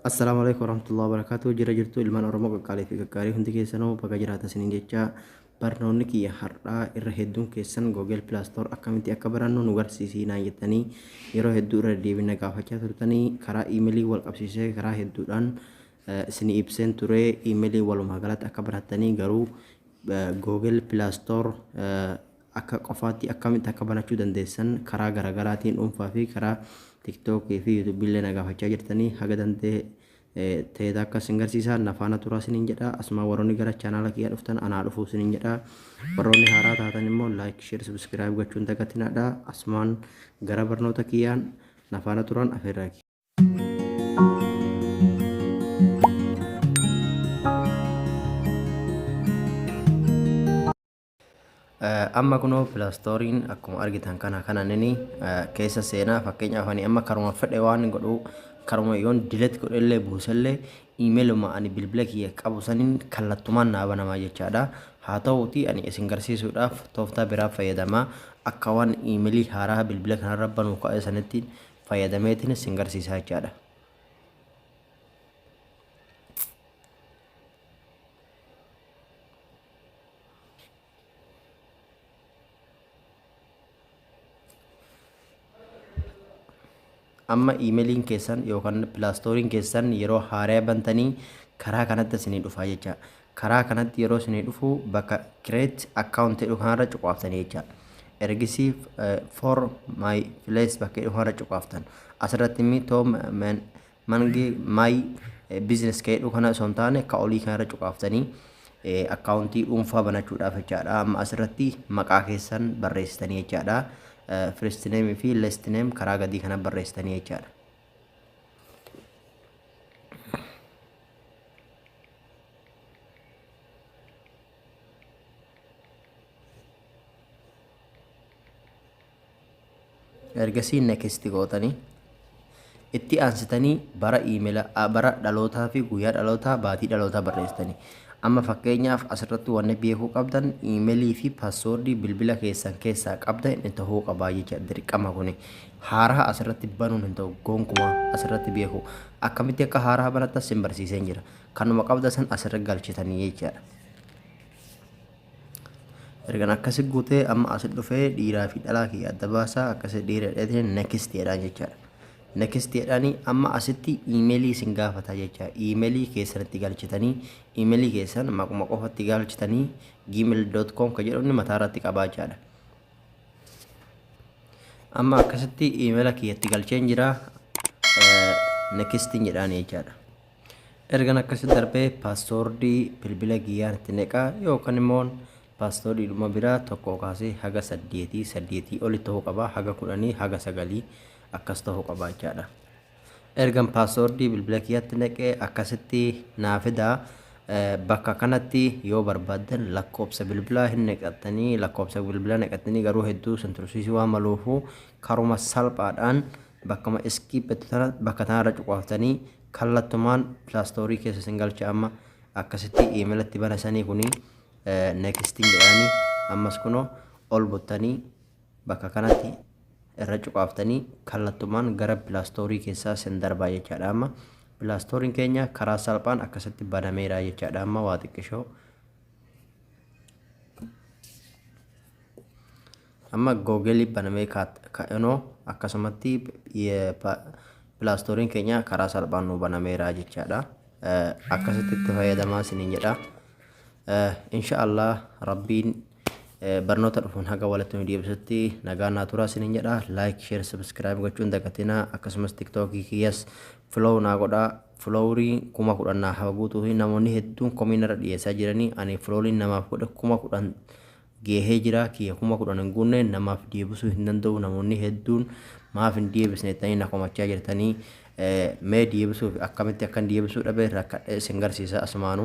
Assalaamu alaikum warahmatullahi wabarakatuh jira jirtu ilmaan oromoo qaqqaalee fi gaggaarii hundi keessanoo baga jiraatan isiniin jechaa barnoonni kiyya har'aa irra hedduun keessan googel pilaastoor akkamitti akka barannu nu garsiisii naan jettanii yeroo hedduu irra deebina gaafachaa turtanii karaa iimelii wal qabsiisee karaa hedduudhaan isin ibseen ture iimelii walumaa galatti akka barattanii garuu googel pilaastoor Akka qofaatti akkamitti akka banachuu dandeessan karaa garagaraatiin dhuunfaa fi karaa tiktok fi youtube illee na gaafachaa jirtanii haga danda'e ta'eet akka isin garsiisaa na faana turaa isiniin jedha asumaa warroonni gara chaanaala kiyyaa dhuftan anaa dhufuu isiniin jedha warroonni haaraa taatan immoo like share subscribe gochuun dagatinaadha asumaan gara barnoota kiyyaan na faana turan afeerraa kiyya. Amma kunoo filastooriin akkuma argitan kana kana nini keessa seenaa fakkeenyaaf ani amma karuma fedhe waan hin godhu karuma yoon dilet godhellee buusellee iimeeluma ani bilbila kiyya qabu saniin kallattumaan naa banamaa jechaadha. Haa ta'uutii ani isin garsiisuudhaaf tooftaa biraa fayyadamaa akka waan iimeelii haaraa bilbila kanarra banuu ka'e sanitti fayyadameetiin isin garsiisaa jechaadha. amma iimeliin keessan yookaan pilaastooriin keessan yeroo haaraya bantanii karaa kanatti isinii dhufaa jecha karaa kanatti yeroo isinii dhufu bakka kireet akkaawunti jedhu kanarra cuqaaftanii jecha ergisii for my place bakka jedhu kanarra cuqaaftan asirratti immoo too Mange my business ka jedhu kana osoo hin taane ka olii kana irra cuqaaftanii akkaawuntii dhuunfaa banachuudhaaf jechaadha. Amma asirratti maqaa keessan barreessitanii jechaadha. First name fi last name karaa gadii kana barreessitanii jechaadha. Ergasii next gootanii itti aansitanii bara iimela bara dhalootaa fi guyyaa dhalootaa baatii dhalootaa barreessitanii amma fakkeenyaaf asirratti wanni beekuu qabdan iimelii fi paaswoordii bilbila keessan keessaa qabda inni ta'uu qabaa jecha dirqama kuni haaraa asirratti banuun hin ta'u gonkumaa asirratti beeku akkamitti akka haaraa banattas sin barsiiseen jira kanuma qabda san asirra galchitanii jechaadha. Ergan akkasi guutee amma asi dhufee dhiiraa fi dhalaa kiyya adda baasaa akkasi dhiira dheetiin next jedhaan jechaadha. Next jedhaanii amma asitti iimeelii isin gaafata jecha iimeelii keessanitti galchitanii iimeelii keessan maquma qofatti galchitanii gmail.com ka jedhu inni mataa irratti qabaa jechaadha. Amma akkasitti iimeela kiyyatti galcheen jira next jedhaan jechaadha. Ergan akkasi darbe password bilbila kiyyaan itti neqa yookan immoon password dhuma bira tokkoo kaasee haga saddeetii saddeetii oli ta'uu qaba haga kudhanii haga sagalii akkas ta'uu qaba jechaadha. Ergan password bilbila kiyyatti neqe akkasitti naa fida bakka kanatti yoo barbaaddan lakkoobsa bilbilaa hin neqattanii lakkoobsa bilbilaa neqattanii garuu hedduu sin tursiisii waan maluufu karuma salphaadhaan bakkama iskiippetti tana bakka tanarra cuqaaftanii Kallattumaan plastory keessa isin galcha amma akkasitti email itti bana sanii kuni nexting jedhaani ammas kuno ol buttanii bakka kanatti irra cuqaaftanii kallattumaan gara plastory keessaa isin darbaa jechaadha amma plastory keenya karaa salphaan akkasitti banameera jechaadha amma waa xiqqishoo Amma Google banamee ka'enoo akkasumatti pilaastoorin keenya karaa salphaan nu banameera jechaadha. Akkasitti itti fayyadamaa isiniin jedha. Insha Allah Rabbiin barnoota dhufuun haga walitti nu deebisutti nagaa naa turaa isiniin jedha. Like, share, subscribe gochuun dagatinaa akkasumas tiktookii kiyyas flow naa godhaa. Flowrii kuma kudhan naa haguutuu fi namoonni hedduun komiin irra dhiyeessaa jiranii ani flowriin namaaf godhe kuma kudhan geehee jiraa kiyya kuma kudhan hin guunne namaf deebisuu hin danda'uu namoonni hedduun maaf hin deebisne jettanii na komachaa jirtanii mee deebisuuf akkamitti akkan deebisuu dhabe rakkadhe isin garsiisa asumaanuu